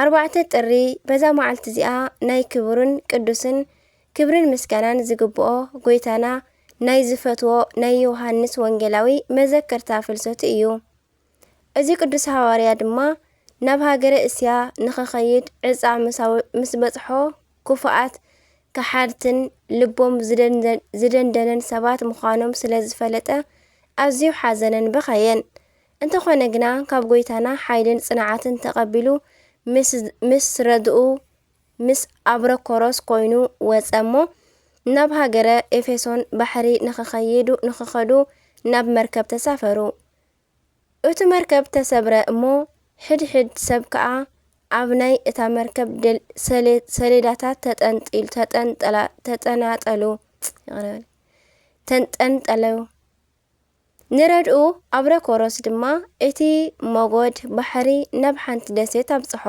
ኣርባዕተ ጥሪ በዛ መዓልቲ እዚኣ ናይ ክቡርን ቅዱስን ክብርን ምስጋናን ዝግብኦ ጎይታና ናይ ዝፈትዎ ናይ ዮሃንስ ወንጌላዊ መዘከርታ ፍልሰቱ እዩ። እዚ ቅዱስ ሃዋርያ ድማ ናብ ሃገረ እስያ ንኸኸይድ ዕፃ ምስ በጽሖ ክፉኣት ከሓድትን ልቦም ዝደንደነን ሰባት ምዃኖም ስለ ዝፈለጠ ኣዝዩ ሓዘነን በኸየን። እንተኾነ ግና ካብ ጎይታና ሓይልን ጽንዓትን ተቐቢሉ ምስ ምስ ረድኡ ምስ ኣብረኮሮስ ኮይኑ ወጸ እሞ ናብ ሃገረ ኤፌሶን ባሕሪ ንኽኸይዱ ንኽኸዱ ናብ መርከብ ተሳፈሩ። እቱ መርከብ ተሰብረ እሞ ሕድ ሕድ ሰብ ከኣ ኣብ ናይ እታ መርከብ ደል ሰሌ ሰሌዳታት ተጠንጢሉ ተጠንጠላ ተጠናጠሉ ይቕረ በለይ ተንጠንጠለው። ንረድኡ ኣብረኮሮስ ድማ እቲ ሞጎድ ባሕሪ ናብ ሓንቲ ደሴት ኣብጽሖ።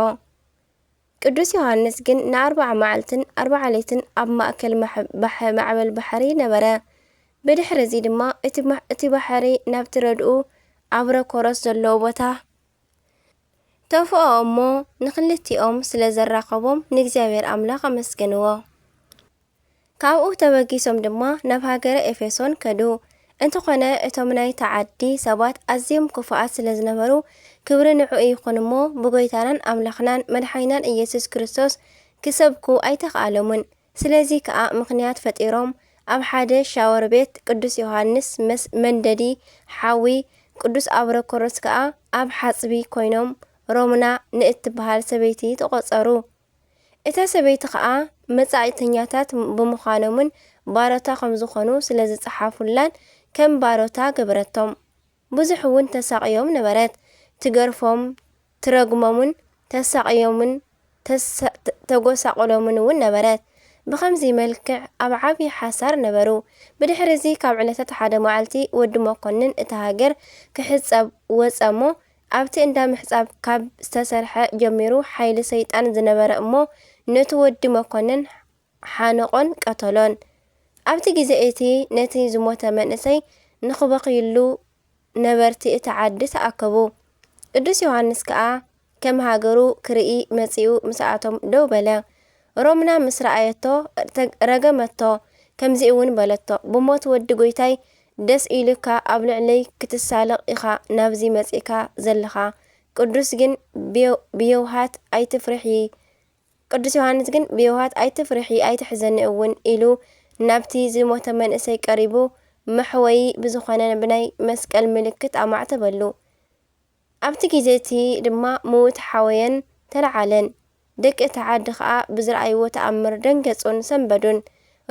ቅዱስ ዮሃንስ ግን ንኣርብዓ መዓልትን ኣርብዓ ለይትን ኣብ ማእከል ማዕበል ባሕሪ ነበረ። ብድሕርዚ ድማ እቲ ባሕሪ ናብቲ ረድኡ ኣብረኮሮስ ዘለዎ ቦታ ተፍኦ እሞ ንኽልቲኦም ስለ ዘራኸቦም ንእግዚኣብሔር ኣምላኽ ኣመስገንዎ። ካብኡ ተበጊሶም ድማ ናብ ሃገረ ኤፌሶን ከዱ። እንተኾነ እቶም ናይታ ዓዲ ሰባት ኣዝዮም ክፉኣት ስለ ዝነበሩ፣ ክብሪ ንዕኡ ይኹን እሞ፣ ብጐይታናን ኣምላኽናን መድሓኒናን ኢየሱስ ክርስቶስ ክሰብኩ ኣይተኻእሎምን። ስለዚ ከኣ ምኽንያት ፈጢሮም ኣብ ሓደ ሻወር ቤት ቅዱስ ዮሃንስ ምስ መንደዲ ሓዊ ቅዱስ ኣብሮኮሮስ ከኣ ኣብ ሓጽቢ ኮይኖም ሮምና ንእትበሃል ሰበይቲ ተቖጸሩ። እታ ሰበይቲ ከኣ መጻኢተኛታት ብምዃኖምን ባሮታ ከም ዝኾኑ ስለ ዝጸሓፉላን ከም ባሮታ ገበረቶም። ብዙሕ እውን ተሳቕዮም ነበረት። ትገርፎም፣ ትረግሞምን ተሳቕዮምን ተጐሳቍሎምን እውን ነበረት። ብኸምዚ መልክዕ ኣብ ዓብዪ ሓሳር ነበሩ። ብድሕርዚ ካብ ዕለታት ሓደ መዓልቲ ወዲ መኰንን እታ ሃገር ክሕጸብ ወጸ እሞ ኣብቲ እንዳ ምሕጻብ ካብ ዝተሰርሐ ጀሚሩ ሓይሊ ሰይጣን ዝነበረ እሞ ነቲ ወዲ መኮንን ሓነቖን ቀተሎን። ኣብቲ ግዜ እቲ ነቲ ዝሞተ መንእሰይ ንኽበኽዩሉ ነበርቲ እታ ዓዲ ተኣከቡ። ቅዱስ ዮሃንስ ከኣ ከም ሃገሩ ክርኢ መጺኡ ምስኣቶም ደው በለ። ሮምና ምስ ረኣየቶ ረገመቶ ከምዚ'ውን በለቶ ብሞት ወዲ ጎይታይ ደስ ኢሉካ ኣብ ልዕለይ ክትሳለቕ ኢኻ ናብዚ መጺእካ ዘለኻ ቅዱስ ግን ብየውሃት ኣይትፍርሒ ቅዱስ ዮሃንስ ግን ብየውሃት ኣይትፍርሒ ኣይትሕዘኒ እውን ኢሉ ናብቲ ዝሞተ መንእሰይ ቀሪቡ መሕወዪ ብዝኾነ ብናይ መስቀል ምልክት ኣማዕተበሉ። ኣብቲ ግዜ እቲ ድማ ምዉት ሓወየን ተለዓለን። ደቂ እታ ዓዲ ኸኣ ብዝረኣይዎ ተኣምር ደንገጹን ሰንበዱን።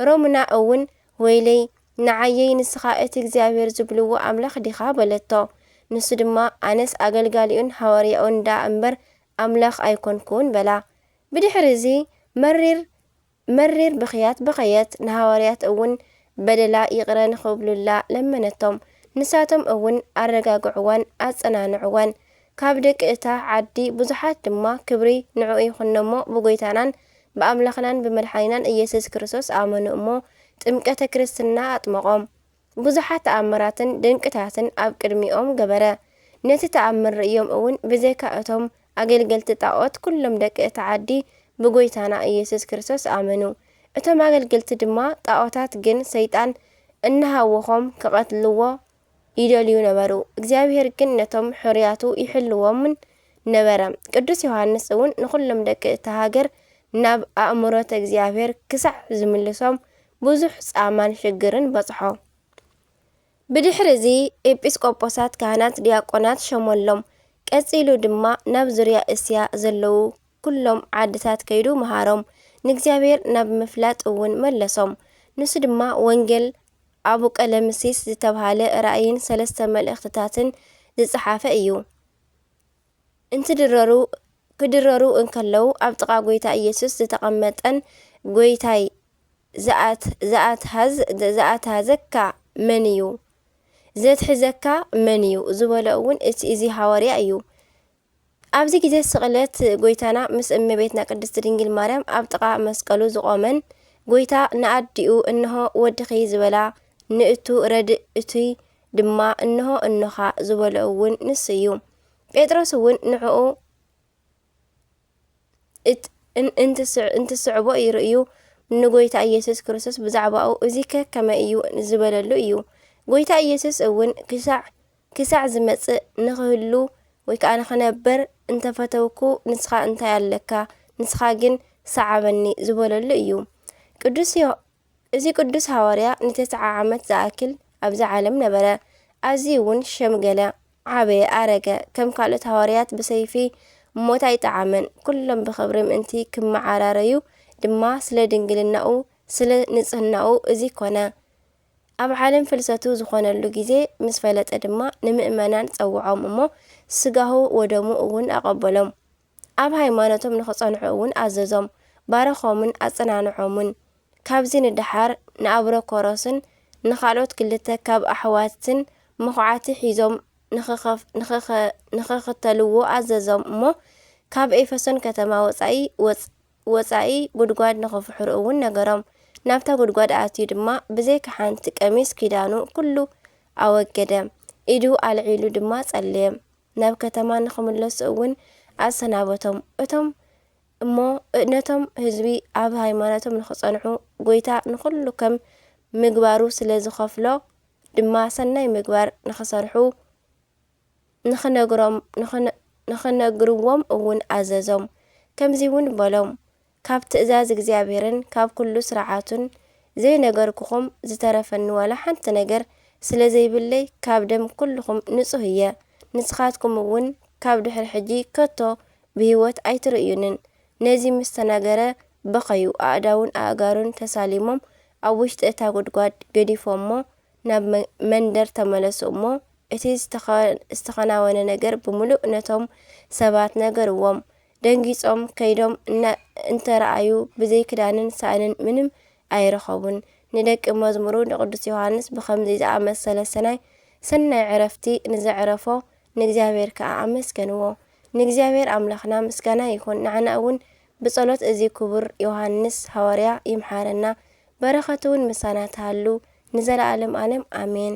ሮምና እውን፣ ወይለይ፣ ንዓየይ ንስኻ እቲ እግዚኣብሄር ዝብልዎ ኣምላኽ ዲኻ? በለቶ። ንሱ ድማ፣ ኣነስ ኣገልጋሊኡን ሃዋርያኡን ደኣ እምበር፣ ኣምላኽ ኣይኰንኩን በላ። ብድሕሪ እዚ መሪር። መሪር ብኽያት በኸየት፣ ንሃዋርያት እውን በደላ ይቕረ ንኽብሉላ ለመነቶም። ንሳቶም እውን ኣረጋግዕዋን ኣጸናንዕዋን። ካብ ደቂ እታ ዓዲ ብዙሓት ድማ ክብሪ ንዕኡ ይኹን'ሞ ብጐይታናን ብኣምላኽናን ብመድሓኒናን ኢየሱስ ክርስቶስ ኣመኑ እሞ ጥምቀተ ክርስትና ኣጥመቖም። ብዙሓት ተኣምራትን ድንቅታትን ኣብ ቅድሚኦም ገበረ። ነቲ ተኣምር ርእዮም እውን ብዘይካ እቶም ኣገልገልቲ ጣኦት ኩሎም ደቂ እታ ዓዲ ብጎይታና ኢየሱስ ክርስቶስ ኣመኑ። እቶም ኣገልገልቲ ድማ ጣኦታት ግን ሰይጣን እናሃወኾም ክቐትልዎ ይደልዩ ነበሩ። እግዚኣብሔር ግን ነቶም ሕሩያቱ ይሕልዎምን ነበረ። ቅዱስ ዮሐንስ እውን ንኹሎም ደቂ እታ ሃገር ናብ ኣእምሮተ እግዚኣብሔር ክሳዕ ዝምልሶም ብዙሕ ጻማን ሽግርን በጽሖ። ብድሕሪ እዚ ኤጲስቆጶሳት፣ ካህናት፣ ዲያቆናት ሸሞሎም። ቀጺሉ ድማ ናብ ዙርያ እስያ ዘለዉ ኩሎም ዓድታት ከይዱ መሃሮም፣ ንእግዚኣብሔር ናብ ምፍላጥ እውን መለሶም። ንሱ ድማ ወንጌል ኣቡቀለምሲስ ዝተብሃለ ራእይን ሰለስተ መልእኽትታትን ዝጸሓፈ እዩ። እንትድረሩ ክድረሩ እንከለዉ ኣብ ጥቓ ጎይታ ኢየሱስ ዝተቐመጠን ጎይታይ ዝኣትሓዘካ መን እዩ? ዘትሕዘካ መን እዩ? ዝበሎ እውን እቲ እዚ ሃዋርያ እዩ። ኣብዚ ግዜ ስቕለት ጎይታና ምስ እመቤትና ቅድስቲ ድንግል ማርያም ኣብ ጥቓ መስቀሉ ዝቖመን ጎይታ ንኣዲኡ እንሆ ወድኺ ዝበላ ንእቱ ረድእ እቱይ ድማ እንሆ እኖኻ ዝበሎ እውን ንሱ እዩ። ጴጥሮስ እውን ንዕኡ እንትስዕቦ ይርእዩ ንጎይታ ኢየሱስ ክርስቶስ ብዛዕባኡ እዚ ከከመ እዩ ዝበለሉ እዩ። ጎይታ ኢየሱስ እውን ክሳዕ ክሳዕ ዝመጽእ ንኽህሉ ወይ ከዓ ንኽነበር እንተፈተውኩ ንስኻ እንታይ ኣለካ ንስኻ ግን ሰዓበኒ ዝበለሉ እዩ። ቅዱስ እዚ ቅዱስ ሓዋርያ ንተስዓ ዓመት ዝኣክል ኣብዚ ዓለም ነበረ፣ ኣዝዩውን ሸምገለ፣ ዓበየ፣ ኣረገ፣ ከም ካልኦት ሓዋርያት ብሰይፊ ሞት ኣይጠዓመን፣ ኩሎም ብኽብሪ ምእንቲ ክመዓራረዩ ድማ ስለ ድንግልናኡ ስለ ንጽህናኡ እዚ ኮነ። ኣብ ዓለም ፍልሰቱ ዝኾነሉ ጊዜ ምስ ፈለጠ ድማ ንምእመናን ጸውዖም እሞ ሥጋሁ ወደሙ እውን ኣቐበሎም። ኣብ ሃይማኖቶም ንኽጸንዑ እውን ኣዘዞም፣ ባረኾምን ኣጸናንዖምን። ካብዚ ንደሓር ንኣብሮኮሮስን ንኻልኦት ክልተ ካብ ኣሕዋትን መኹዓቲ ሒዞም ንኽኽተልዎ ኣዘዞም እሞ ካብ ኤፈሶን ከተማ ወጻኢ ወጻኢ ጉድጓድ ንኽፍሕሩ እውን ነገሮም። ናብታ ጉድጓድ ኣትዩ ድማ ብዘይካ ሓንቲ ቀሚስ ኪዳኑ ኩሉ ኣወገደ፣ ኢዱ ኣልዒሉ ድማ ጸለየ። ናብ ከተማ ንኽምለሱ እውን ኣሰናበቶም። እቶም እሞ ነቶም ህዝቢ ኣብ ሃይማኖቶም ንኽጸንዑ ጐይታ ንዅሉ ከም ምግባሩ ስለ ዝኸፍሎ ድማ ሰናይ ምግባር ንኽሰርሑ ንኽነግሮም ንኽነግርዎም እውን ኣዘዞም። ከምዚውን በሎም፣ ካብ ትእዛዝ እግዚኣብሔርን ካብ ኩሉ ሥርዓቱን ዘይነገርኩኹም ዝተረፈኒ ዋላ ሓንቲ ነገር ስለ ዘይብለይ ካብ ደም ኩልኹም ንጹሕ እየ ንስኻትኩም እውን ካብ ድሕሪ ሕጂ ከቶ ብሕይወት ኣይትርእዩንን ነዚ ምስ ተናገረ በኸዩ ኣእዳዉን ኣእጋሩን ተሳሊሞም ኣብ ውሽጢ እታ ጉድጓድ ገዲፎሞ ናብ መንደር ተመለሱ እሞ እቲ ዝተኸናወነ ነገር ብምሉእ ነቶም ሰባት ነገርዎም ደንጊጾም ከይዶም እንተረኣዩ ብዘይ ክዳንን ሳእንን ምንም ኣይረኸቡን። ንደቂ መዝሙሩ ንቅዱስ ዮሃንስ ብኸምዚ ዝኣመሰለ ሰናይ ሰናይ ዕረፍቲ ንዘዕረፎ ንእግዚኣብሔር ከዓ ኣመስገንዎ። ንእግዚኣብሔር ኣምላኽና ምስጋና ይኹን። ንዓና እውን ብጸሎት እዚ ክቡር ዮሃንስ ሃዋርያ ይምሓረና። በረኸቱ እውን ምሳና ትሃሉ ንዘለዓለም ዓለም ኣሜን።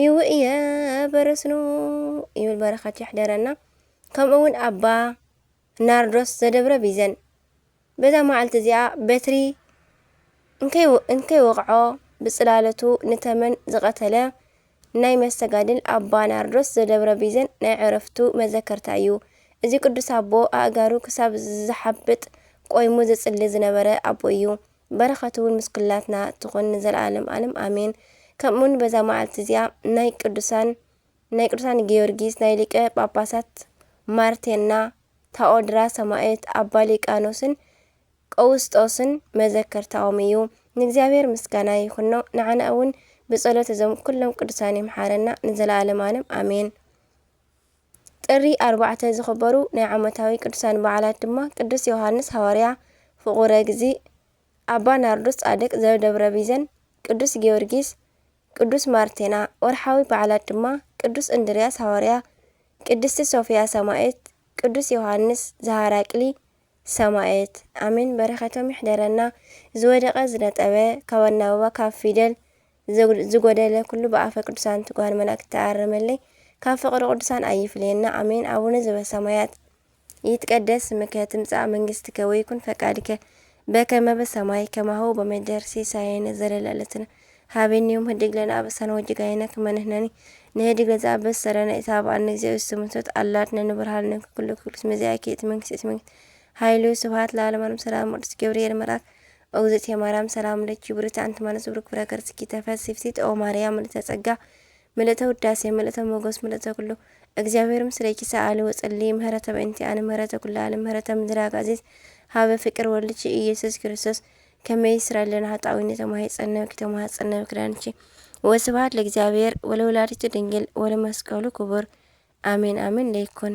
ኢዊ እየ በረስኑ ይብል በረከት ይሕደረና ከምኡ እውን ኣባ ናርዶስ ዘደብረ ቢዘን በዛ መዓልቲ እዚኣ በትሪ እንከይወቕዖ ብፅላለቱ ንተመን ዝቐተለ ናይ መስተጋድል ኣባ ናርዶስ ዘደብረ ቢዘን ናይ ዕረፍቱ መዘከርታ እዩ። እዚ ቅዱስ ኣቦ ኣእጋሩ ክሳብ ዝሓብጥ ቆይሙ ዝፅሊ ዝነበረ ኣቦ እዩ። በረኸቱ ውን ምስ ኩላትና ትኹን ንዘልኣለም ኣለም ኣሜን ከምኡ ውን በዛ መዓልቲ እዚኣ ናይ ቅዱሳን ናይ ቅዱሳን ጊዮርጊስ ናይ ሊቀ ጳጳሳት ማርቴና ታኦድራ ሰማእት ኣባ ሊቃኖስን ቀውስጦስን መዘከርታኦም እዩ ንእግዚኣብሔር ምስጋና ይኹኖ ንዓና እውን ብጸሎት እዞም ኩሎም ቅዱሳን ይምሓረና ንዘለኣለም ኣለም ኣሜን ጥሪ ኣርባዕተ ዝኽበሩ ናይ ዓመታዊ ቅዱሳን በዓላት ድማ ቅዱስ ዮሃንስ ሃዋርያ ፍቑረ እግዚእ፣ ኣባ ናርዶስ ጻድቅ ዘደብረ ቢዘን፣ ቅዱስ ጊዮርጊስ፣ ቅዱስ ማርቴና፣ ወርሓዊ በዓላት ድማ ቅዱስ እንድርያስ ሃዋርያ፣ ቅድስቲ ሶፍያ ሰማእት፣ ቅዱስ ዮሃንስ ዘሃራቅሊ ሰማእት። ኣሜን በረከቶም ይሕደረና ዝወደቀ ዝነጠበ ካብ ኣናብባ ካብ ፊደል ዝጎደለ ኩሉ ብኣፈ ቅዱሳን ትጓሃን መላእክት ተኣረመለይ ካብ ፍቅሪ ቅዱሳን ኣይፍለየና ኣሜን ኣቡነ ዘበሰማያት ይትቀደስ ስምከ ትምጻእ መንግስትከ ወይኩን ፈቃድከ በከመ በሰማይ ከማሁ በምድር ሲሳየነ ዘለለዕለትነ ሃበኒ ዮም ህድግ ለነ ኣበሳነ ወጅጋየነ ከመ ንሕነኒ ንህድግ ለዘ ኣበሰረነ ኢታብኣነ እግዚኦ ስሙንቶት ኣላድነ ንብርሃልነ ኩሉ ክፍሉስ መዚኣኪ እቲ መንግስት እቲ መንግስት ኃይሉ ስብሐት ለዓለማንም ሰላም ቅዱስ ገብርኤል መልኣክ እግዝእትየ ማርያም ሰላም ለኪ ብርክቲ ኣንቲ ማለት ብሩክ ፍረ ከርስኪ ተፈሲ ፍሲት ኦ ማርያም ምልእተ ጸጋ ምልእተ ውዳሴ ምልእተ ሞገስ ምልእተ ኩሉ እግዚኣብሔር ምስሌኪ ሰኣሊ ወጸሊ ምህረተ በእንቲ ኣነ ምህረተ ኩሉ ዓለም ምህረተ ምድር ኣጋዚት ሃበ ፍቅር ወልድኪ ኢየሱስ ክርስቶስ ከመይ ይስረልና ሃጣዊኒ ተማሂጸነብኪ ተማሃጸነብ ክዳንኪ ወስብሐት ለእግዚኣብሔር ወለወላዲቱ ድንግል ወለመስቀሉ ክቡር አሜን አሜን ለይኩን